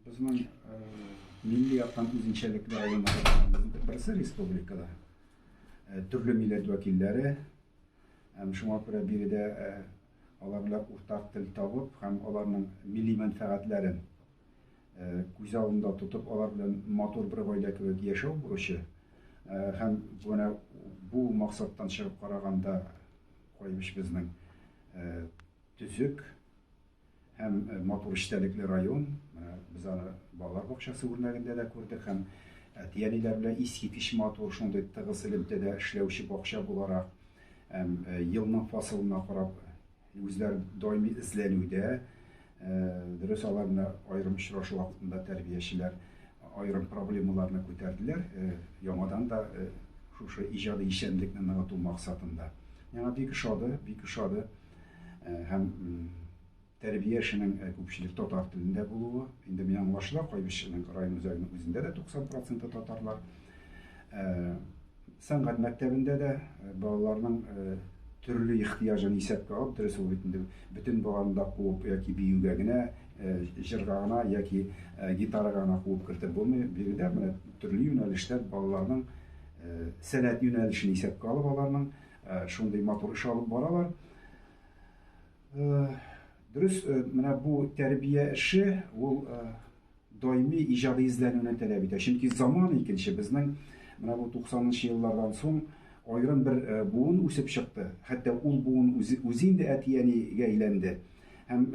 Безнең э, милли яктан үзенчәлекле районнарыбызның берсе республикада. Э, төрле милләт вәкилләре. Һәм шуңа күрә биредә э, алар белән уртак тел табып һәм аларның милли мәнфәгатьләрен күз алдында тотып, алар белән матур бер гаилә кебек яшәү бурычы. Һәм менә бу максаттан чыгып караганда Кайбыч безнең төзек Һәм матур эчтәлекле район, менә без аны балалар бакчасы үрнәгендә дә күрдек һәм әти-әниләр белән искиткеч матур шундый тыгыз элемтәдә эшләүче бакча буларак һәм елның фасылына карап үзләр даими эзләнүдә, дөрес алар менә аерым очрашу вакытында тәрбиячеләр аерым проблемаларны күтәрделәр, яңадан да шушы иҗади эшчәнлекне ныгыту максатында. Миңа бик ошады, бик ошады. һәм тәрбия эшенең күпчелек татар телендә булуы. Инде мин аңлашыла, Кайбычның район үзәгенең үзендә дә 90% татарлар. Сәнгать мәктәбендә дә балаларның төрле ихтыяҗын исәпкә алып, дөрес ул бит инде бөтен баланы да куып яки биюгә генә, җырга гына яки гитарага гына куып кертеп булмый. Биредә менә төрле юнәлештә балаларның сәләт юнәлешен исәпкә алып аларның э, шундый матур эш алып баралар. Э, дөрес, э, менә бу тәрбия эше ул даими иҗади эзләнүне таләп итә. Чөнки заман икенче безнең менә бу 90-нчы еллардан соң аерым бер буын үсеп чыкты. Хәтта ул буын үзе үзе инде әти-әнигә әйләнде. Һәм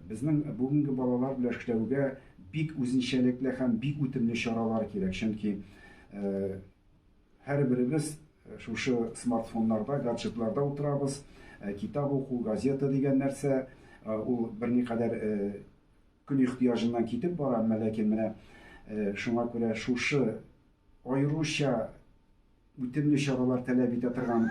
безнең бүгенге балалар белән эшләүгә бик үзенчәлекле һәм бик үтемле чаралар кирәк. Чөнки Һәрберебез шушы смартфоннарда, гаджетларда утырабыз. Китап уку, газета дигән нәрсә, ул берникадәр көн ихтыяҗыннан китеп бара, әмма ләкин менә шуңа күрә шушы аеруча үтемле чаралар таләп итә торган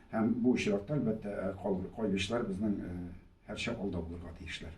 Һәм бу очракта, әлбәттә, кайбычлар безнең һәрчак алда булырга тиешләр.